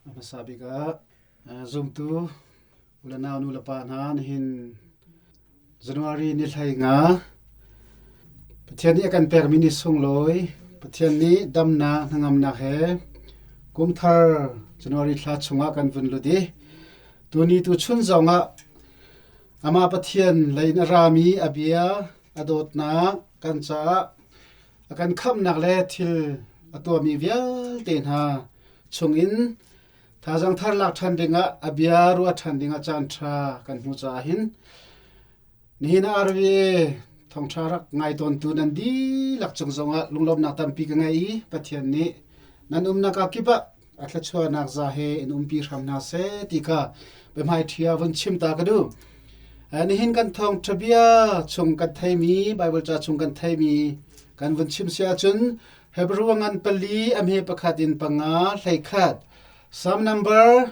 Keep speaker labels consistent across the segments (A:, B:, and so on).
A: A hmasa bik ah zumtu u le nau nu le pa hna nihin January ni hlei nga Pathian nih a kan pekmi ni sunglawi Pathian nih damnak hnangamnak he kumthar January thla chungah kan vun lut i tuni tuchun zongah Amah Pathian lei in a rami a bia a dawtnak kan caah a kan khamhnak le thil a tuahmi vialte hna chungin thazang thar lak ṭhan dingah a bia ruah ṭhan dingah caanṭha kan hmuh caah hin nihin ah RVA thawngṭha rak ngai tawntu nan dihlak cung zongah lunglawmnak tampi ka ngei i Pathian nih nan umnak ah kip ah a thluachuahnak za he in umpi hram hna seh ti ka biahmaiṭhia vun chim ta ka duh. Nihin kan thawng bia chung kan theimi Baibal ca chung kan theimi kan vun chim si ahcun Hebrew ngan pali amhe pakhat in panga hleikhat Psalm number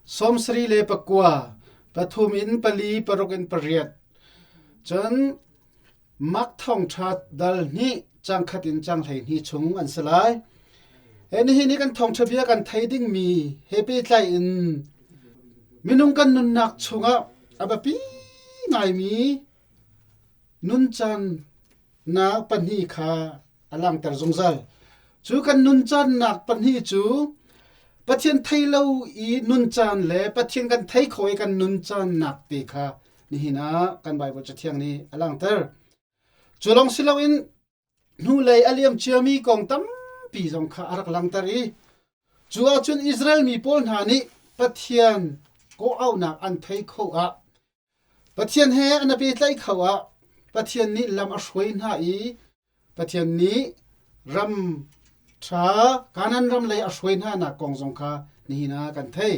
A: sawm sari le pakua pathum in pali paruk in pariat cun Mak thawngṭha dal hnih cangkhat in cang hleihnih chung an si lai. He nihin i kan thawngṭha bia kan thei dingmi he pehtlai in minung kan nunnak chungah a biapi ngaimi nun caannak pahnih kha a langhter zungzal. Cu kan nun caannak pahnih cu Pathian thei lo i nun caan le Pathian kan thei kho i kan nun caannak te kha Nihin ah kan Baibal Cathiang nih a langhter. Cu lawng si loin hnulei a liam ciami kong tampi zong kha a rak langhter i cu ahcun Israel mi pawl hna nih Pathian kawhauhnak an thei kho ah Pathian he an i pehtlaih kho ah Pathian nih lam a hruai hna i Pathian nih ram ṭha Kanaan ram lei a hruai hnanak kong zong kha nihin ah kan thei.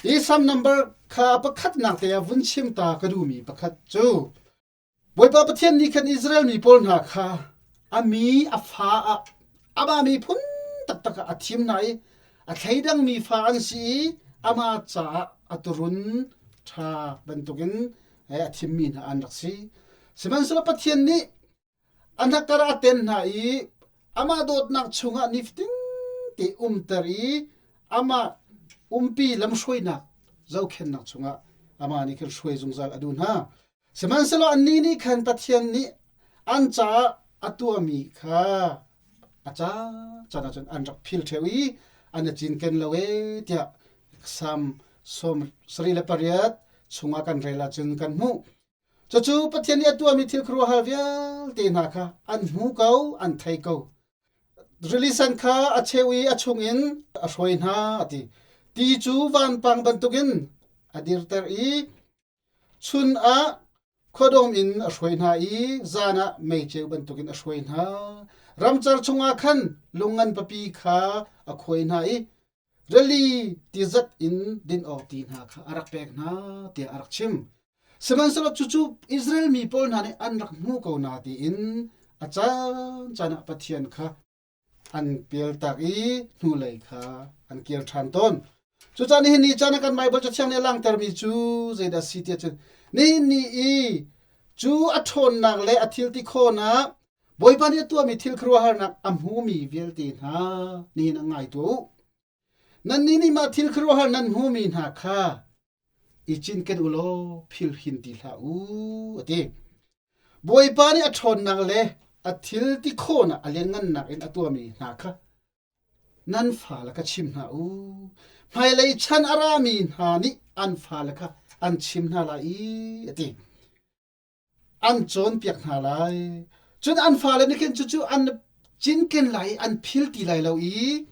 A: Hi Salm number kha pakhatnak te ah vun chim ta ka duhmi pakhat cu Bawipa Pathian nih khan Israel mi pawl hna kha a mi a fa ah amah miphun taktak ah a thim hna i a thleidangmi fa an si i amah caah a turun ṭha bantukin a thimmi hna an rak si. Sihmanhsehlaw Pathian nih a hnakar a ten hna i amah dawtnak chungah nifatin te umter i amah umpi lamhruainak zohkhennak chungah amah nih khin hruai zungzal a duh hna. Sihmanhsehlaw annih nih khan Pathian nih an caah a tuahmi kha a ca caan ah cun an rak phil ṭheo i an i cinken lo ee tiah Psalm sawm sarih le pariat chungah kan rel ahcun kan hmuh. Cucu Pathian nih a tuahmi thil khuaruahhar vialte hna kha an hmu ko, an thei ko. Rilisan kha a cheu i a chungin a hruai hna, a ti. Ti cu vanpang bantukin a dirter i chun ah khuadawm in a hruai hna i zan ah meicheu bantukin a hruai hna. Ramcar chungah khan lung ngan papi kha a khuai hna i rili tizat in din awk ti hna kha a rak pek hna tiah a rak chim. Sihmanhsehlaw cucu Israel mi pawl hna nih an rak hmu ko na tiin a caancaan ah Pathian kha an pialtak i hnulei kha an kir ṭhan tawn. Cucaan nihin ni caan ah kan Baibal cathiang nih a langtermi cu zeidah a si tiah cun nihin ni i cu a ṭhawnnak le a thil ti khawhnak Bawipa nih a tuahmi thil khuaruahharnak a hmumi vialte hna nihin ah ngai tuah u. Nannih nih mah thil khuaruahhar nan hmumi hna kha i cinken u law philhin ti hlah u, a ti. Bawipa nih a ṭhawnnak le a thil ti khawhnak a lianngannak in a tuahmi hna kha nan fale kha chim hna u. Hmailei chan a rami hna nih an fale kha an chim hna lai i, a ti. an cawnpiak hna lai. Cun an fale nih khin cucu an cinken lai i an phil ti lai lo i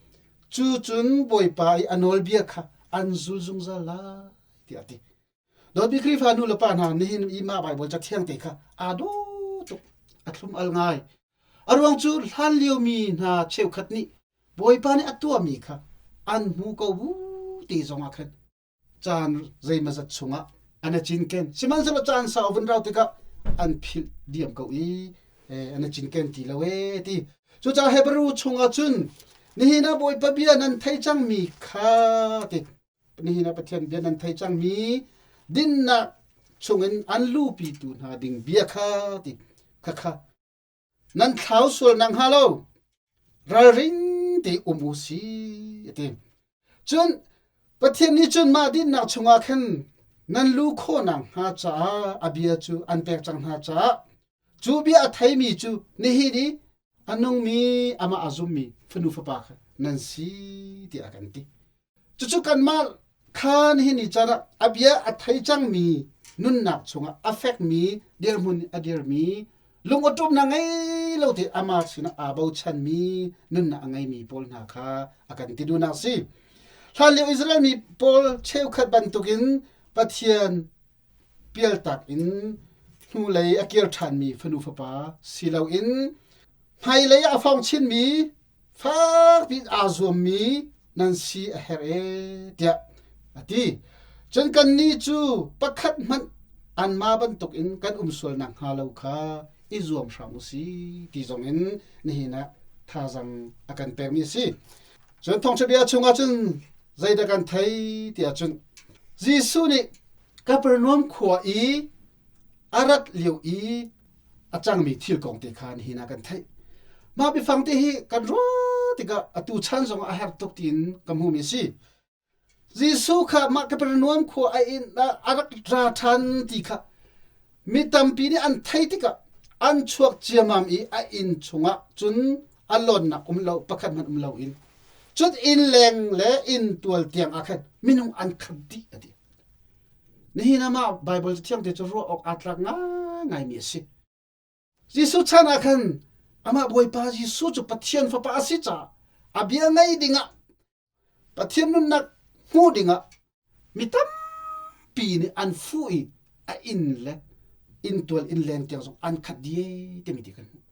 A: cu cun Bawipa i a nawlbia kha an zul zungzal lai, tiah a ti. Dawtmi Khrihfa nu le pa hna, nihin i mah Baibal cathiang te kha aa dawh tuk, a thlum al ngai. A ruang cu hlan liomi hna cheukhat nih Bawipa nih a tuahmi kha an hmu ko bu te zongah khan caan zeimazat chungah an a cinken sihmanhsehlaw caan sau vun rau tikah an philh diam ko i an a cinken ti lo e ti cucaah hebrew chungah cun nihin ah bawipa bia nan thei cangmi kha ti nihin ah pathian bia nan thei cangmi dinnak chungin an lupi tu hna ding bia kha ti khakha nan thlau sual nakhnga lo ralring tein um u sih, a ti. Cun Pathian nih cun mah dinnak chungah khan nan lu khawh nakhnga caah a bia cu an pek cang hna caah cu bia a theimi cu nihin i a nungmi amah a zummi fanu fapa kha nan si tiah a kan ti. Cucu kanmah kha nihin ni car ah a bia a thei cangmi nunnak chungah a fekmi dirhmun a dirmi lungawṭawmnak ngei lo te amah sinah aa bochanmi nunnak a ngeimi pawl hna kha a kan ti duhnak a si. Hlanlio Israel mi pawl cheukhat bantukin Pathian pialtak in hnulei a kir ṭhanmi fanu fapa si loin hmailei ah a fawng chinmi fakpiin aa zuammi nan si a herh e tiah a ti. Cun kannih cu pakhat hmanh an ma bantukin kan um sual nakhnga lo kha i zuam hram u si ti zongin nihin ah thazaang a kan pekmi a si. Cun thawngṭhabia chungah cun zeidah kan thei tiah cun Jesuh nih Kapernaum khua i a rat lio i a cangmi thil kong te kha nihin ah kan theih. Mah biafang te hi kan ruah tikah atu chan zong a har tuk tiin ka hmuhmi a si. Jesuh kha mah Kapernaum khua a inn ah a rak ra ṭhan ti kha mi tampi nih an theih tikah an chuak ciamam i a inn chungah cun a lonnak um lo pakhat hmanh um lo in cun inn leng le inn tual tiang ah khan minung an khat dih a ti. Nihin ah mah Baibal Cathiang te cu ruah awk aa tlak ngaingaimi a si. Jesuh chan ah khan amah Bawipa Jesuh cu Pathian Fapa a si caah a bia ngaih dingah Pathian nunnak hmuh dingah mi tampi nih an fuh i a inn le inntual inn leng tiang zong an khat dih timi ti kan hmuh.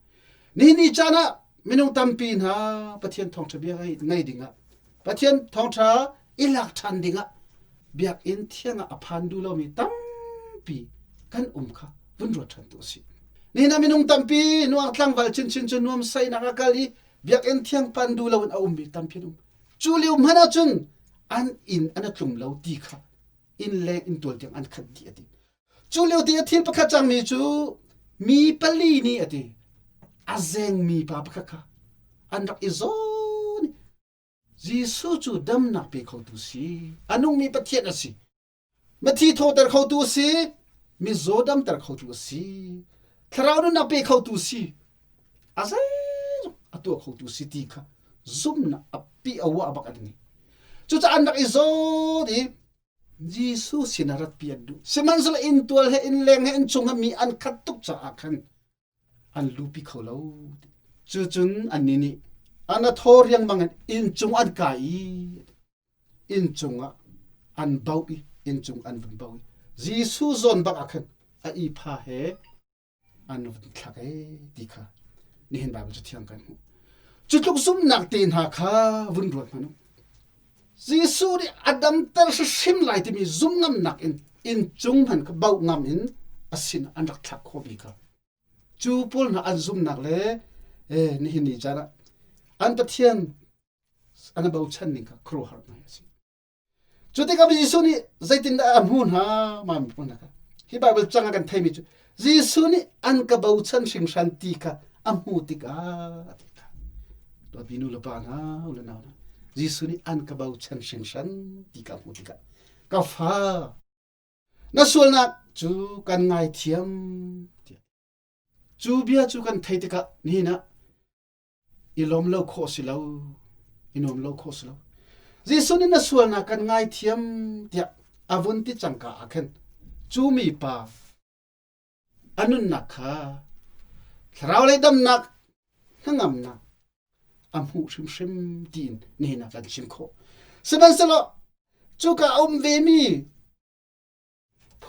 A: Nihin ni caan ah minung tampi hna Pathian thawngṭha bia ngaih dingah Pathian thawngṭha i lak ṭhan dingah biakinn thiangah a phan duh lomi tampi kan um kha vun ruat ṭhantu a si. Nihin ah minung tampi nuak tlangval chinchin cu nuam sainak a kal i biakinn thiang pan duh loin a ummi tampi an um. Cu liu hmanh ahcun an inn an a tlum lo ti kha inn leng inn tual tiang an khat dih a ti. Cu liote a thil pakhat cangmi cu mi pali nih a ti, a zengmi pa pakhat kha an rak i zawn i Jesuh cu damnak pe khotu si, a nungmi Pathian a si, mathi thawter khotu a si, mizaw damter khotu a si, thlarau nunnak pe khotu si, a zeizong a tuah khotu si ti kha zumhnak a piah a uah bak a ding i cucaah an rak i zawt i Jesuh sinah ratpi an duh. Sihmanhsehlaw inntual he innleng he innchung he mi an khat tuk caah khan an lupi kho lo. Cucun annih nih ana thaw riangmang in inncung an kai i inncung ah an bauh i inncung an vun bauh i Jesuh zawn bak ah khan a ihpa he an rak i thlak ei ti kha nihin Baibal cu thiang kan hmuh. Cu tluk zumnak te hna kha vun ruat hmanh u. Jesuh nih a damter hrimhrim lai timi zum ngamnak in inncung hman kha bauh ngam in a sin an rak thlak khawhmi kha. Cu pawl hna an zumnak le eh, nihin ni caan ah an Pathian an i bochan ning kha khuaruahhar hna hi a si. Cu tikah Jesuh nih zeitindah a hmuh hna mah miphun hna kha? Hi Baibal cang ah kan theimi cu Jesuh nih an ka bochan hringhran ti kha a hmuh tikah a ti hna. Dawtmi nu le pa hna, u le nau hna, Jesuh nih an ka bochan hringhran ti ka hmuh tikah ka fa na sualnak cu kan ngaithiam tiah. Cu bia cu kan theih tikah nihin ah i lawm lo khawh si lo, i nuam lo khawh si lo. Jesuh nih na sualnak kan ngaithiam tiah a vun ti cangka ah khin cu mi pa a nunnak kha thlarau lei damnak hnangamnak a hmuh hrimhrim tiin nihin ah kan chim khawh. Sihmanhsehlaw cuka a um vemi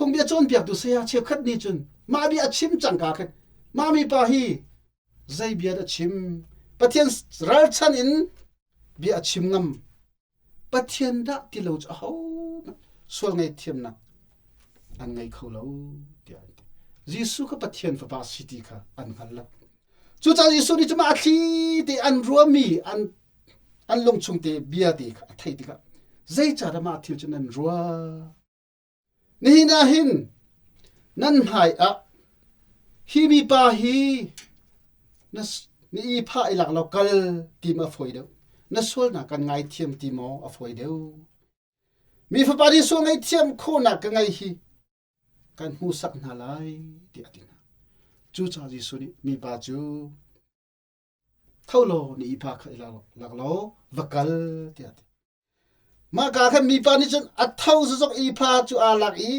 A: Phungbia cawnpiaktu saya cheukhat nih cun mah bia a chim cangka khin mah mipa hi zei bia dah a chim? Pathian ralchan in bia a chim ngam. Pathian dah ti lo cu ahohmanh sual ngaihthiamnak an ngei kho lo tiah an ti. Jesuh kha Pathian fapa si ti kha an hngal lo. Cucaah Jesuh nih cuma a thli te an ruahmi an, an lungchung te bia te kha a theih tikah zeicah dah mah thil cu nan ruah? Nihin ah hin nan hmai ah hi mipa hi na na i phah i lak law kal tim a fawi deuh. Na sualnak kan ngaithiam ti maw a fawi deuh. Mi fapa nih sual ngaihthiam khawhnak ka ngei hi kan hmuhsak hna lai tiah a ti hna. Cucaah Jesuh nih mipa cu, Tho law na ipa kha i lak law va kal tiah a ti. Mah ka khan mipa nih cun a tho zazok ipa cu aa lak i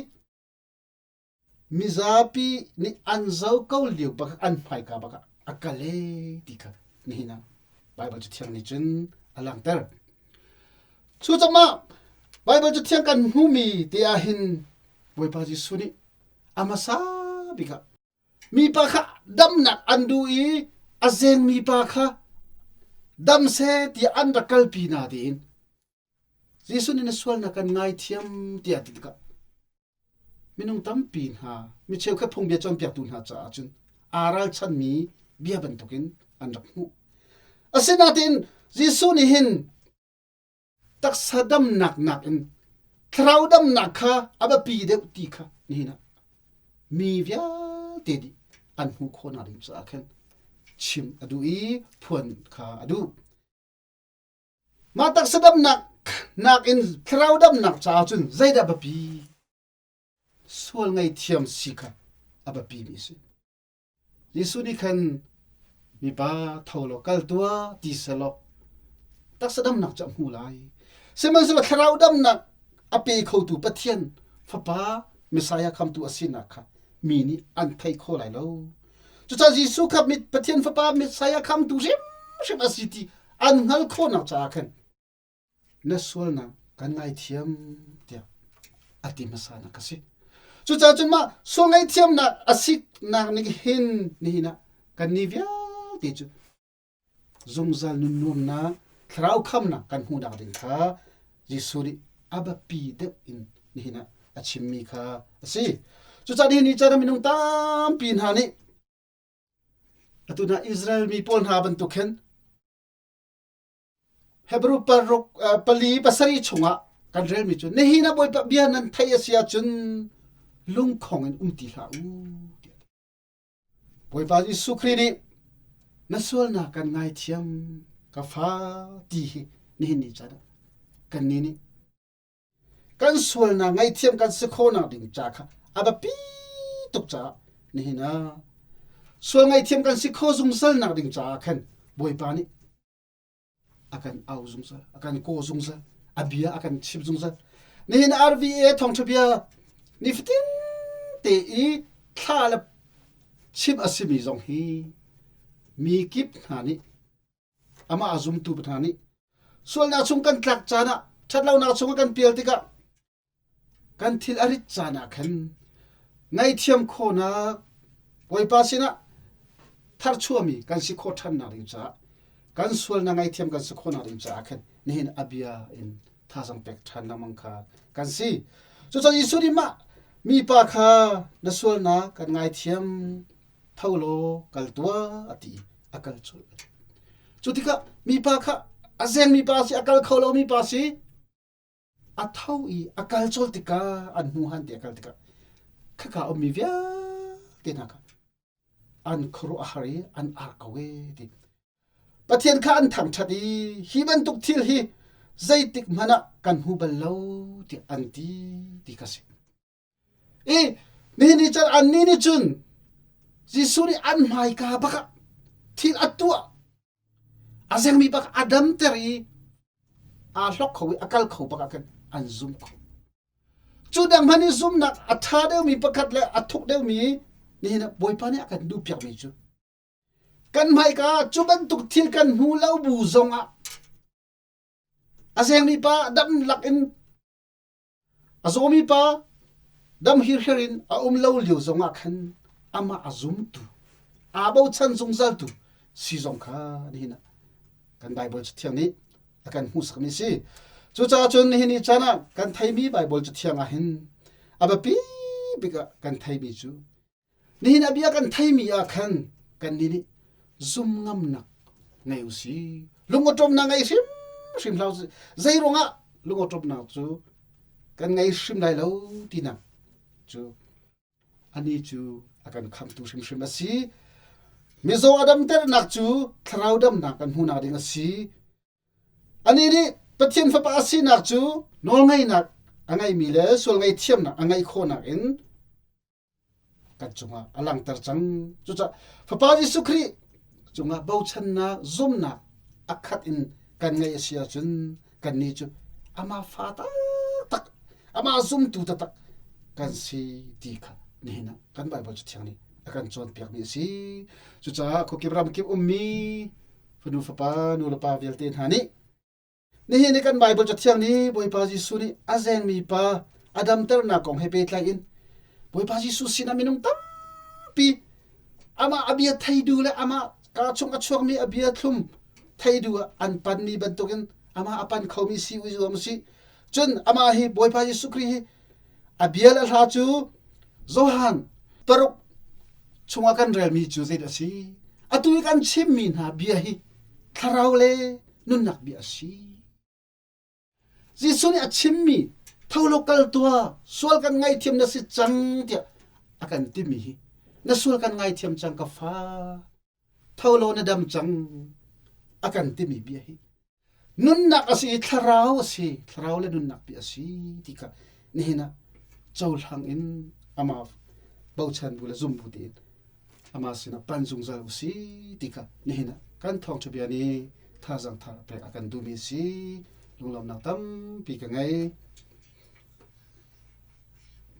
A: mizapi nih an zo ko lio bak an hmaika bak ah a kal ee ti kha nihin ah Baibal Cathiang nih cun a langhter. Cu cangah Baibal Cathiang kan hmuhmi te ah hin Bawipa Jesuh nih a hmasa bik ah Mipa kha damnak an duh i a zengmi pa kha dam seh tiah an rak kalpi hna tiin Jesuh nih na sualnak kan ngaithiam tiah a ti tikah minung tampi hna mi cheukhat phungbia cawnpiaktu hna caah cun aa ralchanmi bia bantukin an rak hmuh. Asinain Jesuh nih hin taksa damnak nakin thlarau damnak kha a biapi deuh ti kha nihin ah mi vialte nih an hmuh khawhnak ding caah khan chim a duh i phuan kha a duh. Mah taksa damnak nakin thlarau damnak caah cun zeidah biapi? Sual ngei thiam si kha a biapi mi a si. Jesuh nih khan, Mipa, tho law kal tuah ti selaw taksa damnak cu a hmu lai. Sihmanhsehlaw thlarau damnak a pe khotu Pathian Fapa Messiah khamtu a sinak kha mi nih an thei kho lai lo. Cucaah Jesuh kha Pathian Fapa Messiah khamtu hrimhrim a si ti an hngalh khawhnak caah khan na sualnak kan ngaithiam tiah a ti hmasa nak ka si cucaah cun mah sual ngaihthiamnak a siknak nih hin nihin ah kan ni vialte cu zungzal nun nuamnak thlarau khamnak kan hmuhnak ding kha Jesuh nih a biapi deuh in nihin ah a chimmi kha a si cucaah nihin ni cun minung tampi hna nih atu hna Israel mi pawl hna bantuk khin Hebru paruk pali pasarih chungah kan relmi cu nihin ah Bawipa bia nan theih a si ahcun lungkhong in um ti hlah u. Bawipa Jesuh Khrih nih na sualnak kan ngaithiam ka fa ti hi nihin ni can ah kannih nih kan sualnak ngaihthiam kan si khonak ding ca kha a biapi tuk caah nihin ah sual ngaihthiam kan si kho zungzalnak ding caah khan Bawipa nih a kan au zungzal a kan kaw zungzal a bia a kan chimh zungzal nihin RVA thawngtha bia nifatin te i thla le chim a simi zong hi mi kip hna nih amah a zumtu pa hna nih sualnak chung kan tlak caan ah ṭhatlonak chung a kan pial tikah kan thil a rit caan ah khan ngaihthiam khawhnak Bawipa sinah tharchuami kan si khawh ṭhannak ding caah kan sualnak ngaihthiam kan si khawhnak ding caah khan nihin a bia in thazang pek ṭhan lengmang kha kan si cucun Jesuh nih mah mipa kha na sualnak kan ngaithiam tho law kal tuah a ti i a kal colh. Cu tikah mipa kha a zengmi pa si, a kal kho lomi pa si, a tho i a kal colh tikah an hnu han ti a kal tikah khaka ummi vialte hna kha an khuaruah a har i an ar ko e ti. Pathian kha an thangṭhat i hi bantuk thil hi zeitik hmanh ah kan hmu bal lo tiah an ti ti kha a si. I nihin ni can annih nih cun Jesuh nih an hmaika bak ah thil a tuah a zengmi bak a damter i aa hlok kho i a kal kho bak ah khan an zum kho. Cu dang hmanh i zumnak a ṭha deuhmi pakhat le a thuk deuhmi nihin ah Bawipa nih a kan duhpiak ve cu. Kan hmaika cu bantuk thil kan hmu lo bu zong ah a zengmi pa dam lak in A zawmi pa damhirhir in a um lo lio zongah khan amah a zumtu, aa bochan zungzaltu si zong kha nihin ah kan Baibal cu thiang nih a kan hmuhsakmi a si. Cucaah cun nihin ni caan ah kan theimi Baibal cu thiang ah hin a biapi bik ah kan theimi cu Nihin a bia kan theimi ah khan kannih nih zum ngamnak ngei u si. Lungawṭawmnak ngei hrimhrim hlah u sih. Zei ruangah lungawṭawmnak cu kan ngei hrim lai lo tinak cu anih cu a kan khamtu hrimhrim a si. Mizaw a damternak cu thlarau damnak kan hmuhnak ding a si. Anih nih Pathian Fapa a sinak cu nawlngeihnak a ngeimi le sual ngeihthiamnak a ngeih khawhnak in kan cungah a langter cang cucah fapa jesuh khrih cungah bochannak zumnak a khat in kan ngeih a si ahcun kannih cu amah fa taktak amah zumtu taktak kan si ti kha nihin ah kan Baibal cu thiang nih a kan cawnpiakmi a si cucaah khuakip ram kip ummi fanu fapa nu le pa vialte hna nih Nihin i kan Baibal Cathiang nih Bawipa Jesuh nih a zengmi pa a damternak kong he pehtlai in Bawipa Jesuh sinah minung tampi amah a bia theidu le amah kaa chung a chuakmi a bia thlum theidu ah an panmi bantukin amah a pan khomi si uizuam u sih. Cun amah hi Bawipa Jesuh Khrih hi a bia le hla cu Johan paruk chungah kan relmi cu zeidah a si? Atu i kan chimmi hna bia hi thlarau le nunnak bia a si. Jesuh nih a chimmi tho lo kal tuah sual kan ngaihthiam na si cang tiah a kan timi hi na sual kan ngaithiam cang ka fa tho lo na dam cang a kan timi bia hi nunnak a si i thlarau a si thlarau le nunnak bia a si ti kha nihin ah cohlang in amaf bochan bu le zum bu tein amah sinah panh zungzal u si ti kha nihin ah kan thawngṭha bia nih thazang thar pek a kan duhmi a si lunglawmhnak tampi ka ngei